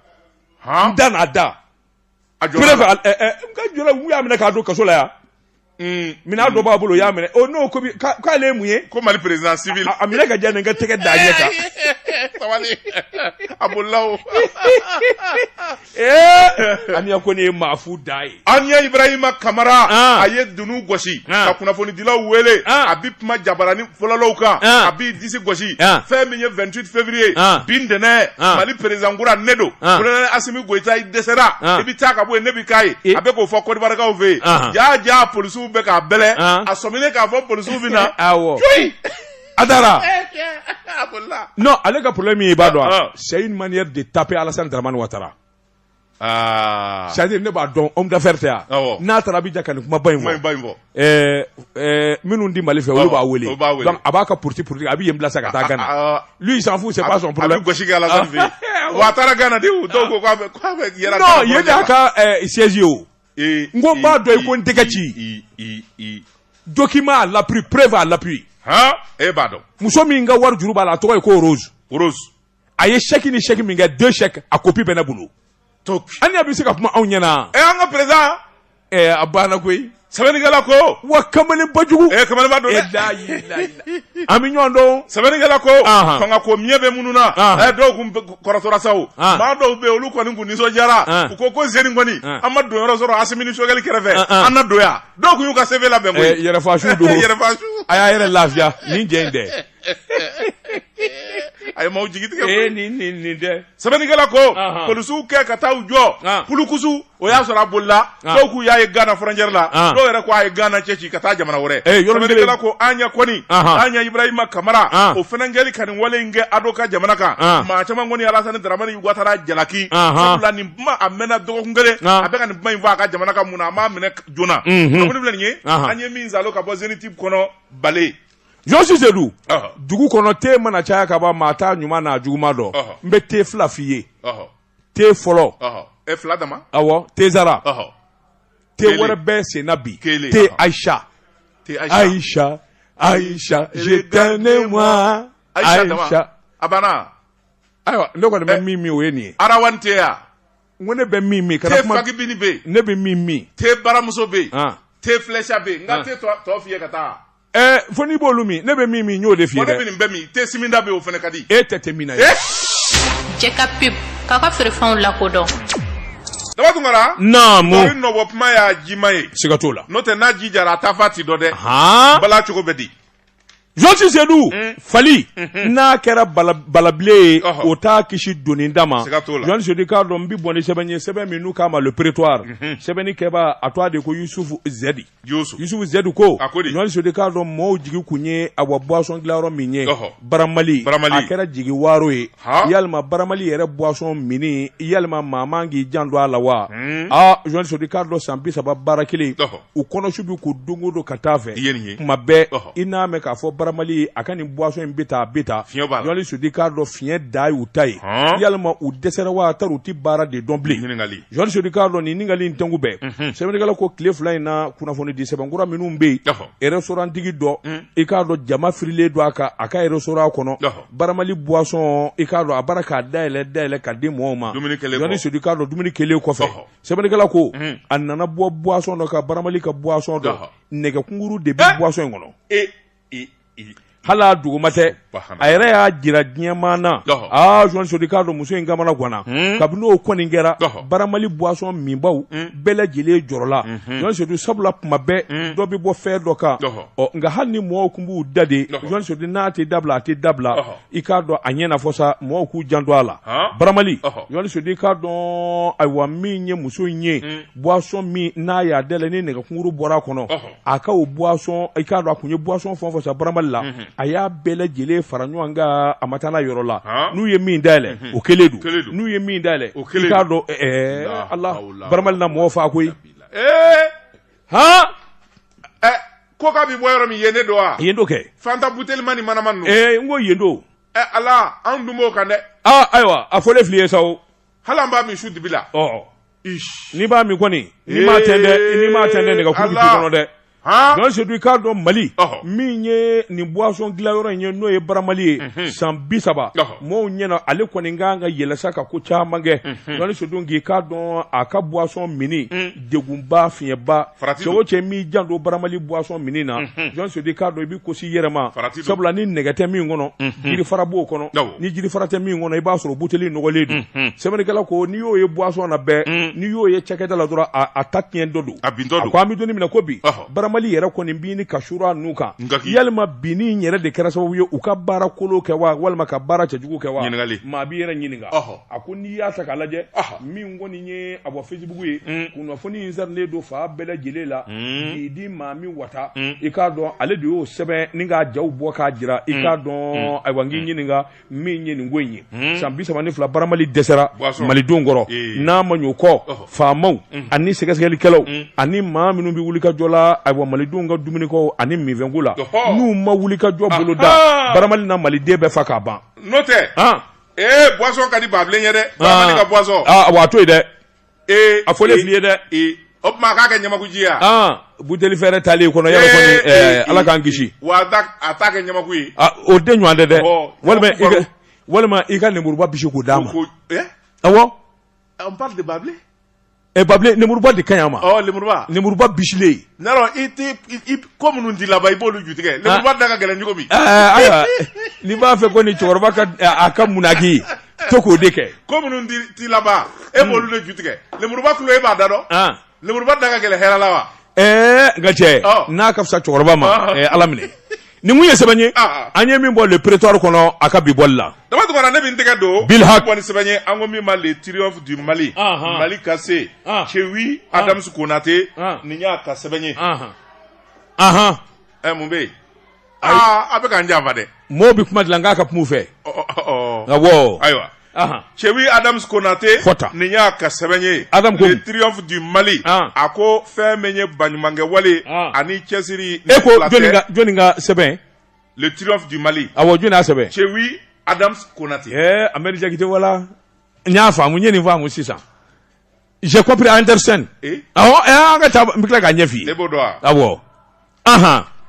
n da n'a da a jɔra kɛrɛfɛ a- ɛ- ɛ, n ka jɔla u y'a minɛ k'a don kaso la yan Mm, minɛn dɔ b'a bolo u y'a minɛ o n'o ko bi- k'a- k'ale ye mun ye ko mali président civil a a minɛ ka diya nin ka tɛgɛ da a ɲɛ kan sabali a bolila o ee aniya ko nin ye maafu da ye aniya ibrahima kamara Ah. a ye dunu gosi Ah. ka kunnafonidilaw wele Ah. a bi kuma jabarani fɔlɔlaw kan a b'i disi gosi fɛn min ye 28 février bi ntɛnɛn mali président kura ne don colonel asimi goyita i dɛsɛra i bɛ taa ka bɔ yen ne bɛ k'a ye a bɛ k'o fɔ kɔdiwarikaw fɛ yen jaa jaa polisiw bɛ k'a bɛlɛn a sɔminen k'a fɔ polisiw bɛ na coyi a taara non ale ka problème ye i b'a dɔn wa c'est une manière de taper Alassane Dramane Ouattara c'est-à-dire ne b'a dɔn homme d'affaires tɛ yan Awɔ. n'a taara Abidjan ka nin kumaba in kuma in fɔ ba in fɔ ɛɛ ɛɛ minnu di mali fɛ olu Awɔ, b'a wele olu b'a wele. Donc, a b'a ka politi- politique a bɛ yen bila sa ka taa gana Ah, lui il s'en fout c'est pas son problème a bɛ gosi kɛ Alassane fɛ yen Ah. wa a taara Ghana de o dɔw ko k'a bɛ k'a bɛ yɛrɛ non yen de y'a ka ɛɛ siège ye o Ee, n ko n b'a dɔn i ko n tɛgɛ ci. i i i document à l'appui preuve à l'appui han e b'a dɔn muso min ka wari juru b'a la a tɔgɔ ye ko rose rose a ye chèque ni chèque min kɛ deux chèques a kopi bɛ ne bolo aniya bɛ se ka kuma anw ɲɛna ɛ an ka président ɛ a banna koyi sɛbɛnnikɛla ko wa kamalenba jugu ɛ kamalenba don dɛ an bɛ ɲɔgɔn dɔn sɛbɛnnikɛla ko fanga ko miɲɛ bɛ minnu na ɛ dɔw kun kɔrɔtɔra sa o maa dɔw bɛ yen olu kɔni kun nisɔndiyara u ko ko zeni kɔni an ma don yɔrɔ sɔrɔ asimi ni sogɛli kɛrɛfɛ an na don yan dɔw kun y'u ka CV labɛn koyi yɛrɛfasu don yɛrɛfasu a y'a yɛrɛ lafiya nin jɛ in dɛ a ye maaw jigi tigɛ ee nin nin nin dɛ sɛbɛnnikɛla ko Anhan. polisiw kɛ ka taa u jɔ An. pulukusu o y'a sɔrɔ a bolila An. dɔw k'u y'a ye gana frontière la An. dɔw yɛrɛ ko a ye gana cɛci ka taa jamana wɛrɛ Eh, yɔrɔ min bɛ- sɛbɛnnikɛla ko aniya kɔni Anhan. aniya ibrahima kamara An. o fɛnɛ kɛli ka nin wale in kɛ ado ka jamana kan An. maa caman kɔni alasani daramani watara jalaki Anhan. sabula nin kuma a mɛnna dɔgɔkun kelen An. a bɛ ka nin kuma in fɔ a ka jamana kan mun na a m'a minɛ joona Mhm. kunnafoni filɛ nin ye Anhan. an ye min zalo ka bɔ Zenith kɔnɔ bale jɔsi sedu dugu kɔnɔ te mana caya ka ban maa t'a ɲuman n'a juguman dɔn n bɛ te fila f'i ye te fɔlɔ dama awɔ te zara te wɛrɛ bɛ senna bi te ayisa ayisa ayisa je t'aime ne moi ayisa a banna ayiwa ne kɔni bɛ min min o ye nin ye arawan te ya n ko ne bɛ min min kana kuma te fakibini bɛ yen ne bɛ min min te baramuso bɛ yen te filɛsa bɛ yen n ka te tɔ f'i ye ka taa Ɛɛ fo n'i b'olu min ne bɛ min min y'o de f'i ye dɛ. Wa ne bɛ nin bɛɛ min te siminda bɛ yen o fana ka di. E tɛ te min na ye. Jɛ ka pub k'a ka feerefɛnw lakodɔn. Daba Tunkara. Naamu. Tori nɔbɔ kuma y'a jima ye. Siga t'o la. N'o tɛ n'a ji jara a taa fan ti dɔn dɛ. Haan. Bala cogo bɛ di. Jɔsi Sedu mm. fali mm-hmm. n'a kɛra balabile ye o t'a kisi doni ta ma Jɔsi Sedu k'a dɔn n bɛ bɔ ni sɛbɛn ye sɛbɛn min n'u k'a ma le prétoire mm-hmm. sɛbɛnni kɛbaa a tɔgɔ de ko Yusufu Zɛdi. yusufu zɛdi ko jɔsi sedu k'a dɔn maaw jigi tun ye a wa boisson dilanyɔrɔ min ye baramali a kɛra jigi waaro ye yalima baramali yɛrɛ boisson minni yalima maa k'i janto a la wa hmm. jɔsi sedu k'a dɔn san bi saba baara kelen u kɔnɔ su bɛ ko don go don ka taa fɛ kuma bɛɛ i n'a mɛn k'a fɔ baramali a ka nin boisson in bɛ taa bɛ taa jɔsi sedu k'a dɔn fiɲɛ de y'u ta ye yalima u dɛsɛra wa tari u tɛ baara de dɔn bilen Jɔsi Sedu k'a dɔn nin ɲininkali in tɛnku bɛɛ, unhun, sɛbɛnnikɛla ko tile fila in na kunnafoni di sɛbɛn kura minnu bɛ yen, ɔhɔ, restaurant tigi dɔ, un, i k'a dɔn jama firilen don a kan a ka restaurant kɔnɔ, ɔhɔ, baramali boisson i k'a dɔn a bara k'a dayɛlɛ dayɛlɛ ka di mɔɔw ma, Jɔsi Sedu k'a dɔn dumuni kɛlen kɔfɛ, ɔhɔ, sɛbɛnnikɛla ko, un, a nana bɔ boisson dɔ kan baramali ka boisson dɔ, ɔhɔ, nɛgɛ kunguru de bɛ boisson in kɔnɔ, e hali a dɔgɔman tɛ a yɛrɛ y'a jira diɲɛmaa na jɔsi sedu k'a dɔn muso in kamana ganna hmm. kabini o kɔni kɛra baramali buwasɔn minbaw hmm. bɛɛ lajɛlen jɔrɔla jɔsi sedu hmm. sabula kuma bɛɛ dɔ bɛ bɔ fɛn dɔ kan ɔ nka hali ni mɔgɔw tun b'u da de jɔsi sedu n'a tɛ dabila a tɛ dabila i k'a dɔn a ɲɛna fɔ sa mɔgɔw k'u janto a la baramali jɔsi sedu k'a dɔn ayiwa min ye muso in ye buwasɔn min n'a y'a dayɛlɛ ni nɛgɛkunkuru bɔra a kɔnɔ a ka o buwasɔn i k'a dɔn a tun ye buwasɔn fɛn o fɛn san baramali la a y'a bɛɛ lajɛlen fara ɲɔgɔn kan a ma taa n'a yɔrɔ la n'u ye min dayɛlɛ o kelen don n'u ye min dayɛlɛ i k'a dɔn ala baramali na mɔgɔ fa koyi hɔn ko k'a bɛ bɔ yɔrɔ min yen de don wa yen don kɛ fanta butelima ni manama n ko yen don ala anw dun b'o kan dɛ ayiwa a fɔlen filɛ i ye sa hali an b'a min su dibi la ɔ n'i b'a min kɔni n'i m'a tɛntɛn n'i m'a tɛntɛn nɛgɛ kuru bi k'i Ala. kɔnɔ dɛ han Jɔsi Sedu k'a dɔn mali Ɔhɔ. min ye nin boisson dilan yɔrɔ in ye n'o ye baramali ye Mhm. san bi saba Ɔhɔ. mɔɔw ɲɛna ale kɔni kan ka yɛlɛ sa ka ko caman kɛ Mhm. Jɔsi Sedu k'i k'a dɔn a ka boisson minni Mm. degunba fiɲɛba farati cɛ o cɛ min jan don baramali buwasɔn min na jɔn sodi k'a dɔn i bɛ kosi yɛrɛ ma farati sabula ni nɛgɛ tɛ min kɔnɔ jiri fara b'o kɔnɔ ni jiri fara tɛ min kɔnɔ i b'a sɔrɔ buteli nɔgɔlen don sɛbɛnnikɛla ko n'i y'o ye buwasɔn na bɛɛ n'i y'o ye cakɛda la dɔrɔn a ta tiɲɛ dɔ don a bin dɔ ko an bɛ don min na ko bi baramali yɛrɛ kɔni binni ka surun u kan nka yalima binni yɛrɛ de kɛra sababu ye u ka baara kolon kɛ wa walima ka baara cɛjugu kɛ wa ɲininkali maa b'i yɛrɛ ɲininka a ko n'i y'a ta k'a lajɛ min kɔni ye a bɔ fesibugu ye mm. kunnafoni in carilen don fan bɛɛ lajɛlen la mm. k'i di maa min wata mm. i k'a dɔn ale de y'o sɛbɛn ni k'a jaw bɔ k'a jira i k'a dɔn ayiwa n k'i ɲininka min ye nin ko in ye san bi saba ni fila baramali dɛsɛra malidenw kɔrɔ n'a ma ɲɔ kɔ faamaw ani sɛgɛsɛgɛlikɛlaw ani maa minnu bɛ wuli ka jɔ la ayiwa malidenw ka dumuniko ani minfɛnko la n'u ma wuli ka jɔ boloda baramali na maliden bɛɛ fa k'a ban n'o tɛ ee buwasɔn ka di babilen ye dɛ baramali ka buwasɔn aa wa a to yen dɛ ee a fɔlen fili ye dɛ ee o tuma a k'a kɛ ɲamaku ji ye wa aa buteli fɛrɛ taalen kɔnɔ yɛrɛ kɔni Ee, ee, ɛɛ ala k'an kisi wa a t'a- a t'a kɛ ɲamaku ye Ah, o de ɲɔgɔn tɛ dɛ Ɔ, walima i ka walima i ka lemuruba bisi k'o d'a ma ko eh awɔ on parle de babilen Ɛ babilen lenmuruba de ka ɲi a ma lenmuruba lenmuruba bisilen awɔ i ko minnu t'i laban i b'olu ju tigɛ lenmuruba da ka gɛlɛn cogo min ayiwa n'i b'a fɛ ko ni cɛkɔrɔba a ka munnaki to k'o de kɛ ko minnu t'i laban e b'olu de ju tigɛ lenmuruba kilo e b'a da dɔn lenmuruba da ka gɛlɛn hɛrɛ la wa ɛɛ nka cɛ n'a ka fisa cɛkɔrɔba ma ala minɛ ni mun ye sɛbɛn ye ah. an ye min bɔ le prétoire kɔnɔ a ka bi bɔli la dama tugara ne bɛ n tɛgɛ don bi ka bɔ ni sɛbɛn ye an ko min ma le triomphe du mali ah, ah. mali ka se cewi adams konate nin y'a ka sɛbɛn ye ahan ɛ eh, mun bɛ yen aa a bɛ k'an janfa dɛ mɔɔw bɛ kuma dilan k'a ka kuma u fɛ awɔ ayiwa cɛ adama konatɛ kɔta nin y'a ka sɛbɛn ye tiri mali a ko fɛn bɛ ye bakɛ wale ani cɛsiri e ko ka sɛbɛn tiri mali a wa jɔn' sɛbɛn cɛ adama konatɛ anrike wala n y'a faamumu ye nin faamumu sisan j'ai compris understand an ka taa n bɛ tila k'a ɲɛf'i ye e b'o dɔn wa awɔ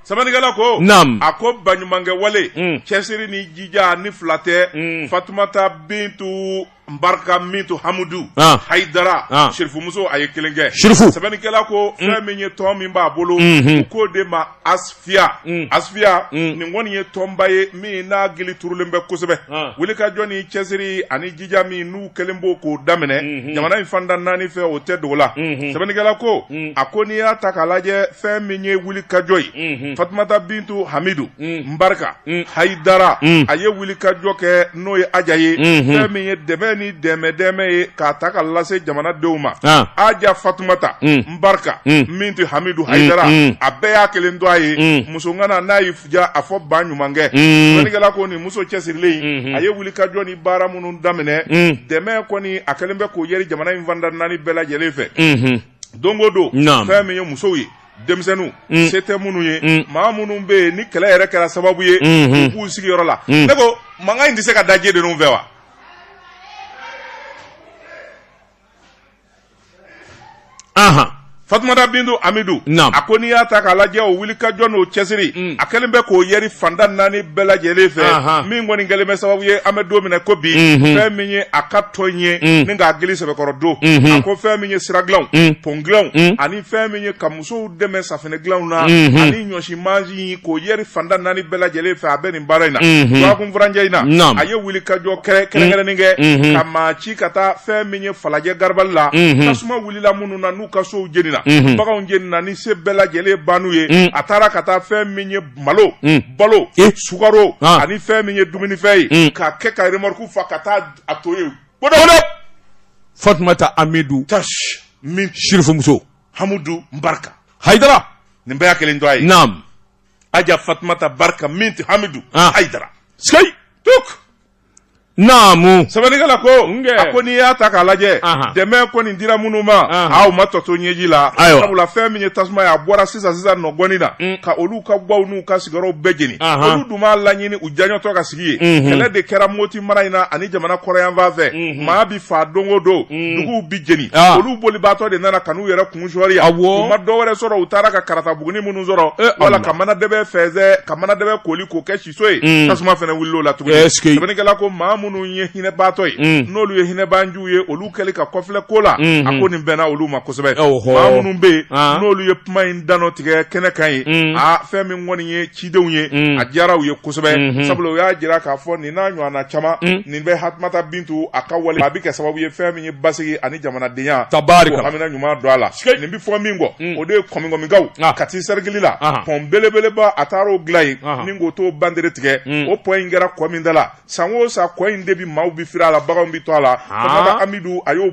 sɛbɛnnikɛla ko naamu a ko baɲumankɛ wale cɛsiri ni jija ni fila tɛ fatumata bintu mbarka mintu hamudu hayidara sirifumuso a ye kelen kɛ sirifu sɛbɛnnikɛla ko fɛn min ye tɔn min b'a bolo k'o de ma a Fiya unh Asfiya unh nin kɔni ye tɔnba ye min n'a gili turulen bɛ kosɛbɛ an wulikajɔ ni cɛsiri ani jija min n'u kɛlen b'o k'o daminɛ unhun jamana in fanda 4 fɛ o tɛ dogo la unhun sɛbɛnnikɛla ko unh a ko n'i y'a ta k'a lajɛ fɛn min ye wulikajɔ ye unhun Fatumata Bintu Hamidu unh Nbarika unh Hayidara unh a ye wulikajɔ kɛ n'o ye Aja ye unhun fɛn min ye dɛmɛ ni dɛmɛ-dɛmɛ ye k'a ta ka lase jamanadenw ma an Aja Fatumata unh barika Mm. Minti hamidu hayidara mm. a bɛɛ y'a kelen tɔgɔ ye Mm. muso ŋana n'a y'i ja a fɔ ba ɲumankɛ Mm. sɛbɛnnikɛla ko nin muso cɛsirilen in Mhm. a ye wulikajɔ ni baara minnu daminɛ Mm. dɛmɛ kɔni a kɛlen bɛ k'o yɛri jamana in fanda naani bɛɛ lajɛlen fɛ Mhm. don o don Naam. fɛn min ye musow ye denmisɛnninw Mm. se tɛ minnu ye Mm. maa minnu bɛ yen ni kɛlɛ yɛrɛ kɛra sababu ye Mhm. u b'u sigiyɔrɔ la Mm. ne ko mankan in tɛ se ka da je ninnu fɛ wa Ahan. Fatumata Bintu Hamidu. Naamu. A ko n'i y'a ta k'a lajɛ o wulikajɔ n'o cɛsiri. Un. A kɛlen bɛ k'o yɛri fanda naani bɛɛ lajɛlen fɛ. Ahan. Min kɔni kɛlen bɛ sababu ye an bɛ don min na ko bi. Unhun. Fɛn min ye a ka tɔn ye. Un. Ni k'a gili sɛbɛkɔrɔ don. Unhun. A ko fɛn min ye siradilanw. Un. Pɔn dilanw. Un. Ani fɛn min ye ka musow dɛmɛ safinɛ dilanw na mhm. ani ɲɔsi mansin k'o yɛri fanda naani bɛɛ lajɛlen fɛ a bɛ nin baara in na dɔgɔkun mhm. furancɛ in na a ye wulikajɔ kɛrɛnkɛrɛnnen kɛ mhm. ka maa ci ka taa fɛn min ye falajɛ garabali la tasuma wulila minnu na n'u ka sow jenina baganw jenina ni se bɛɛ lajɛlen ban'u ye mm. a taara ka taa fɛn min ye malo mm. balo eh. sukaro ah. ani fɛn min ye dumunifɛn ye mm. k'a kɛ ka remɔruku fa ka taa a tɔgɔ ye fatumata hamidu tashi min sirifumuso hamudu barka haidara nin bɛɛ y'a kelen tɔgɔ ye naam aja fatumata barka Minti hamidu Ah. haidara sky tuk naamu sɛbɛnnikɛla ko Nge. a ko n'i y'a ta k'a lajɛ Aha. dɛmɛ kɔni dira minnu ma Aha. u ma tɔ to ɲɛji la Ayiwa. sabula fɛn min ye tasuma ye a bɔra sisan sisan nɔgɔnin na Mm. ka olu ka gwaw n'u ka sigiyɔrɔw bɛɛ jeni Aha. olu dun m'a laɲini u diyanyetɔ ka yen kɛlɛ de kɛra moti mara in na ani jamana kɔrɔnyanfan fɛ maa bɛ faa don o don duguw bɛ jeni ah. olu bolibaatɔ de nana ka n'u yɛrɛ kun sɔri yan u ma dɔ wɛrɛ sɔrɔ u taara ka karata bugunin minnu sɔrɔ eh, wala ka manadɛbɛ fɛnsɛ ka manadɛbɛ koli k'o kɛ siso ye mm. tasuma fana wulila o la tuguni sɛbɛnnikɛla ko maa minnu ye hinɛbaatɔ ye mm. n'olu ye hinɛbanjuw ye olu kɛli ka kɔfilɛ ko la mm-hmm. a ko nin bɛnna olu ma kosɛbɛ maa minnu bɛ yen ah. n'olu ye kuma in dantigɛ kɛnɛ kan ye mm. a ah, fɛn min kɔni ye cidenw ye a diyara u ye kosɛbɛ sabula u y'a jira k'a fɔ nin n'a ɲɔgɔnna caman nin bɛ Fatumata bintu a ka wale a bɛ kɛ sababu ye fɛn min ye basigi ani jamanadenya hamina ɲuman don a la nin bɛ fɔ min kɔ o de ye Kɔmikɔmikaw Kati sɛrikili la pɔn belebeleba a taara'o dilan yen ni k'o to bandere tigɛ o pɔn in kɛra kɔ min da la san o san kɔ in de bɛ maaw bɛ fili a la baganw bɛ to a la ah. amidu a y'o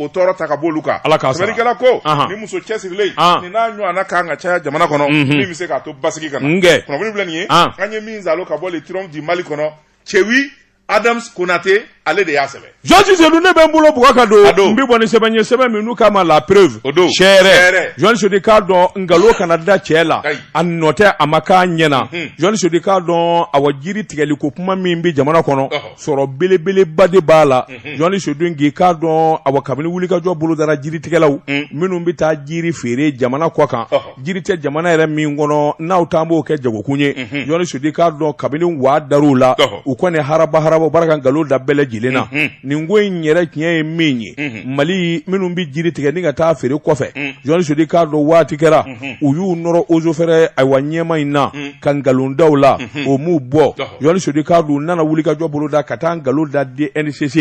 tɔɔrɔ ta ka bɔ olu kan sɛbɛnnikɛla ko nin muso cɛsirilen ah. nin n'a ɲɔgɔnna ka kan ka caya jamana kɔnɔ mhm. min bɛ se k'a to basigi ka na kunnafoni filɛ nin ye ah. an ye min zalo ka bɔ le triomphe du mali kɔnɔ cɛwi adams konate ale de y'a sɛbɛn Journaliste sedu ne bɛ n bolo bugɔ ka don n bɛ bɔ ni sɛbɛn ye sɛbɛn min n'u k'a ma la preuve seere journaliste sedu i k'a dɔn nkalon kana da cɛ la a nɔ tɛ a ma k'a ɲɛna journaliste sedu i k'a dɔn awa jiri tigɛli ko kuma min bɛ jamana kɔnɔ sɔrɔ belebeleba de b'a la journaliste sedu i k'a dɔn awa kabini wulikajɔ bolodara jiritigɛlaw minnu bɛ taa jiri feere jamana kɔkan jiri tɛ jamana yɛrɛ min kɔnɔ n'aw taa b'o kɛ jagokun ye journaliste sedu i k'a dɔn kabini waa dara u la u kɔni haraba haraba bara ka nkalon da bɛɛ lajɛlen na nin ko in yɛrɛ tiɲɛ ye min ye mali minnu bɛ jiri tigɛ ni ka taa feere kɔfɛ journaliste sedu i k'a dɔn waati kɛra u y'u nɔrɔ eaux et forêts ayiwa ɲɛmaa in na ka nkalon da u la o m'u bɔ journaliste sedu i k'a dɔn u nana wulikajɔ boloda ka taa nkalon da DNCC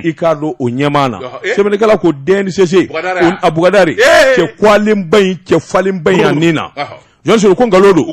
i k'a dɔn o ɲɛmaa na sɛbɛnnikɛla ko DNCC a bugadari cɛ kolenba in cɛ falenba in yan nin na journaliste sedu ko nkalon don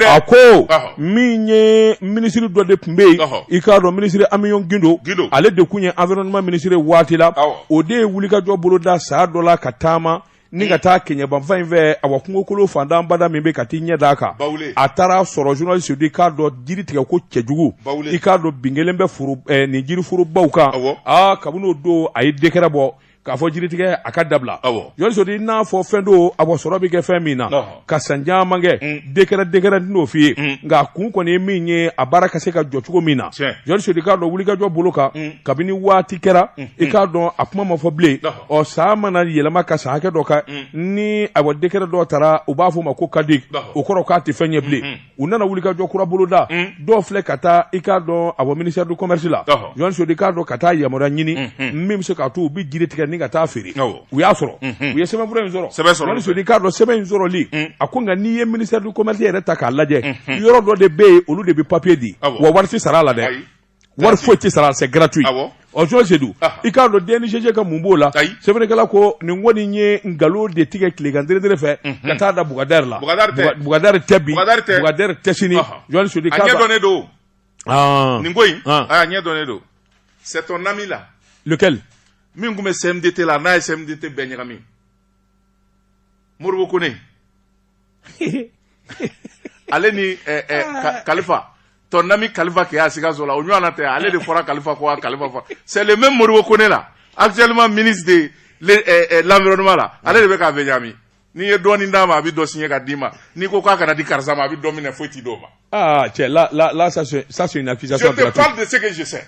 a ko min ye minisiri dɔ de tun bɛ yen i k'a dɔn minisiri amion guindo ale de tun ye environnement minisiri waati la o de ye wulikajɔ boloda san dɔ la ka taama ni ka taa kɛɲɛba fan in fɛ awa kungokolo fantanbada min bɛ ka t'i ɲɛ d'a kan a taar'a sɔrɔ journaliste i k'a dɔn jiri tigɛ ko cɛjugu i k'a dɔn bin kelen bɛ foro eh, nin jiriforobaw kan aa kabini o don a ye dekɛrɛ bɔ k'a fɔ jiritigɛ a ka dabila journaliste sedu i n'a fɔ fɛn don awa sɔrɔ bɛ kɛ fɛn min na ka san caman kɛ mm. dekɛrɛ dekɛrɛ n'o f'i ye mm. nka a kun kɔni ye min ye a baara ka se ka jɔ cogo min na journaliste sedu i k'a dɔn wulikajɔ bolo kan mm. kabini waati kɛra i k'a dɔn a kuma ma fɔ bilen ɔ san mana yɛlɛma ka san hakɛ dɔ kan ni awa dekɛrɛ dɔ tara u b'a fɔ o ma ko caduc o kɔrɔ k'a tɛ fɛn ye bilen u nana wulikajɔ kura boloda dɔw filɛ ka taa i k'a dɔn a bɔ ministère du commerce la journaliste sedu i k'a dɔn ka taa yamaruya ɲini min bɛ se k'a to u bɛ jiri tigɛ ni ka taa feere u y'a sɔrɔ u ye sɛbɛnfura in sɔrɔ journaliste sedu i k'a dɔn sɛbɛn in sɔrɔli a kunkan n'i ye ministère du commerce yɛrɛ ta k'a lajɛ yɔrɔ dɔ de bɛ yen olu de bɛ papiye di wa wari tɛ sara a la dɛ wari foyi tɛ sara c'est gratuit ɔ journaliste sedu i k'a dɔn DNCC ka mun b'o la sɛbɛnnikɛla ko nin kɔni ye nkalon de tigɛ tilegan dere fɛ ka taa da bugadari la bugadari tɛ bi bugadari tɛ sini journaliste sedu k'a ɲɛ dɔnnen don nin ko in a ɲɛ dɔnnen don c'est ton ami là lequel min tun bɛ CMDT la n'a ye CMDT bɛɛ ɲagami Modibo Kone ale ni eh, eh, ah. kalifa ton ami kalifa qui est à sikaso la o ɲɔgɔn na tɛ ale de fɔra kalifa kɔ kalifa fɔ c'est le même modibo kone la actuellement ministre de eh, eh, l'environnement la ale de bɛ k'a bɛɛ ɲami n'i ye dɔɔni d'a ma a bɛ dɔ siɲɛ ka d'i ma n'i ko k'a kana di karisa ma a bɛ dɔ minɛ foyi tɛ d'o ma. ah cɛ la la la ça c'est ça c'est une accusation gratuite. je te parle de ce que je sais.